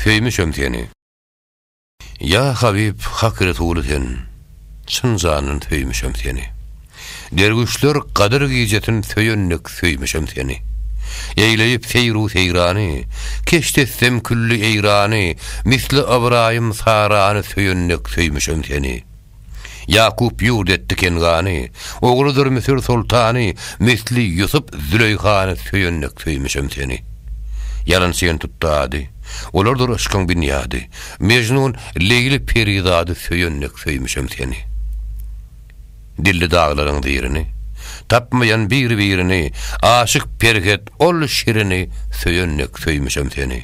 Söýmüşem seni. Ýa Habyp Hak Resuly sen. Çyn jandan söýmüşem seni. Derwüşler Gadyr gijesin söýen dek söýmüşem seni. Eýleýip seýru seýrany, keşt etsem külli eýrany, misli ybraýym Sarany söýen dek söýmüşem seni. Ýakup ýurt etdi Kengany, Ogludyr Müsür soltany, Misli Ýusup Züleýhany Söýendik söýmüşem seni. Ýalan çen tutdy ady, Olardyr yşkyň binýady, Mejnun, Leýli perizady Söýendik söýmüşem seni. Dildi daglaryň zirini, Tapmaýan biri-birini, Aşyk Perhet ol şirini Söýendik söýmüşem seni.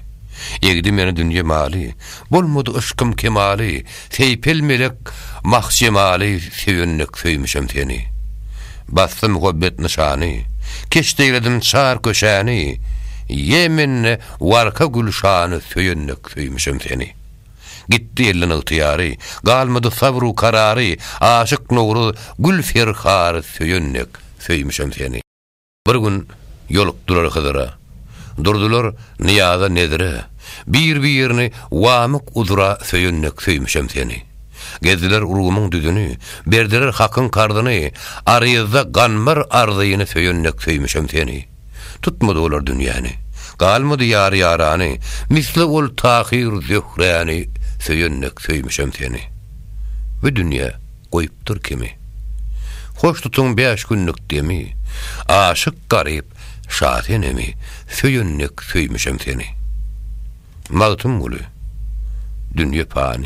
Egdi meni dünýe maly, Bolmady yşkym kemaly, Seýpel melek mah jemaly Söýendik söýmüşem seni. Basdy muhabbet nyşany, Keşdeýledim çar köçäni, Ýe mende warka gülşany Söýendik söýmüşem seni. Gitdi elden ygtyýary, Galmady sabr-u karary, Aşyk Nowruz gül ferhary Söýendik söýmüşem seni. Bir gün ýolukdylar Hyzyra. Durdular Nyýaza nezire. Bir-birini wamyk uzra söýennek söýmüşem seni. Gezdiler urgumyň düzüni, berdiler hakyň karzyny, aryzda ganbar arzyny söýennek söýmüşem seni. Tutmady olar dünýäni. Galmady ýar-ýarany, misli ol Tahyr Zöhräni söýennek söýmüşem seni. Bu dünýä Goýupdyr kimi. Hoş tutuň bäş günlük demi, Aşyk garyp Şasenemi, Söýen dek söýmüşem seni. Magtymguly. Dünýe pany.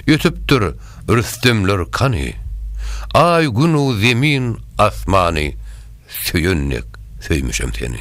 Ötüpdir Rüstemler kany, Aý, Gün-u Zemin, Asmany, Söýen dek söýmüşem seni.